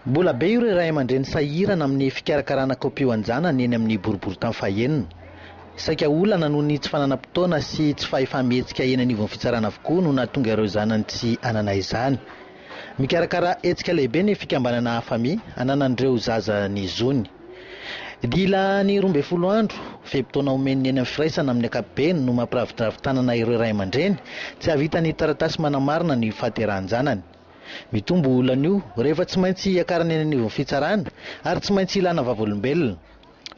Mbola be ireo ray aman-dreny sahirana amin'ny fikarakarana kopio an-janany eny amin'ny boriborintany fahenina. Saika olana noho ny tsy fananam-potoana sy tsy fahefa-mihetsika eny anivon'ny fitsarana avokoa no nahatonga ireo zanany tsy hanana izany. Mikarakara hetsika lehibe ny fikambanana Afami hananan'ireo zaza ny zony. Dila ny roa ambin'ny folo andro, fe-potoana omen'ny eny amin'ny firaisana amin'ny ankapobeny no mampiravidravi tanana ireo ray aman-dreny tsy hahavita ny taratasy manamarina ny fahaterahan-janany. Mitombo olana io rehefa tsy maintsy hiakarana eny anivon'ny fitsarana ary tsy maintsy ilana vavolombelona.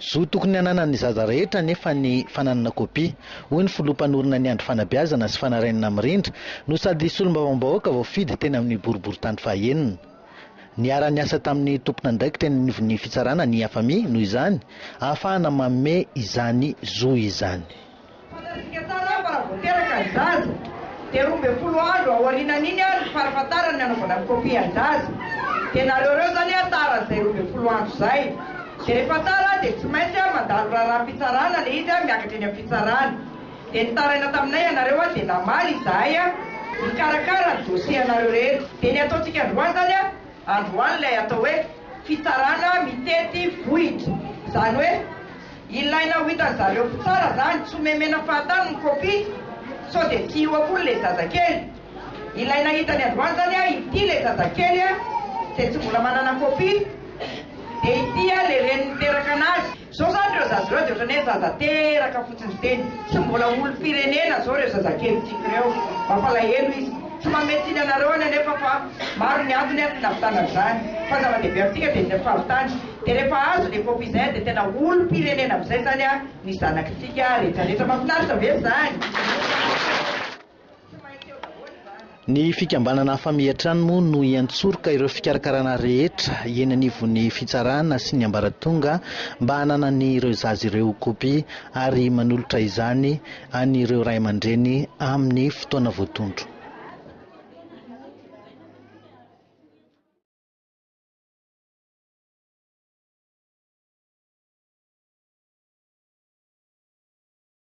Zo tokony hananan'ny zaza rehetra anefa ny fananana kopia, hoy ny filoha mpanorina ny andrim-panabeazana sy fanarainana mirindra no sady solombavambahoaka voafidy teny amin'ny boriborintany fahaenina. Niara-niasa tamin'ny tompon'andraikitra eny anivon'ny fitsarana ny Afami, noho izany, ahafahana manome izany zo izany. Fantatsika tsara fa raha vao teraka ny zaza dia roa ambin'ny folo andro aorianan'iny ary ny farifatarany ny anaovana ny copie an-jaza. Dia nareo ireo izany a tara izay roa ambin'ny folo andro izay. Dia rehefa tara dia tsy maintsy a mandalo raharaham-pitsarana ilay izy a miakatra eny am-pitsarana. Dia nitaraina taminay ianareo a dia namaly izahay a mikarakara ny dossier anareo rehetra. Dia ny ataontsika androany izany a. Androany ilay atao hoe fitsarana mitety vohitra. Izany hoe ilaina ho hitan'ny zareo mpitsara izany, tsy homemena fahatany ny copie sao dia tsy hiova koa ilay zazakely. Ilaina hitany androany izany a, ity ilay zazakely a, izay tsy mbola manana copie, dia ity a ilay reniny niteraka anazy. Zao zany reo zaza reo de otrany hoe zaza teraka fotsiny fiteny tsy mbola olo firenena zao reo zazakely tiko reo mampalahelo izy tsy mametsiny anareo any anefa fa maro ny antony aty navitanany zany fa zava dehibe amtika de ny fahavitany de refa azo le copie zay de tena olo pirenena amizay zany a ny zanakitika retraretra mafinaritra ve zany? Ny fikambanana Famihatrano moa no hiantsoroka ireo fikarakarana rehetra eny anivon'ny fitsarana sy ny ambaratonga mba hananan'ireo zaza ireo kopia ary manolotra izany an'ireo ray aman-dreny amin'ny fotoana voatondro.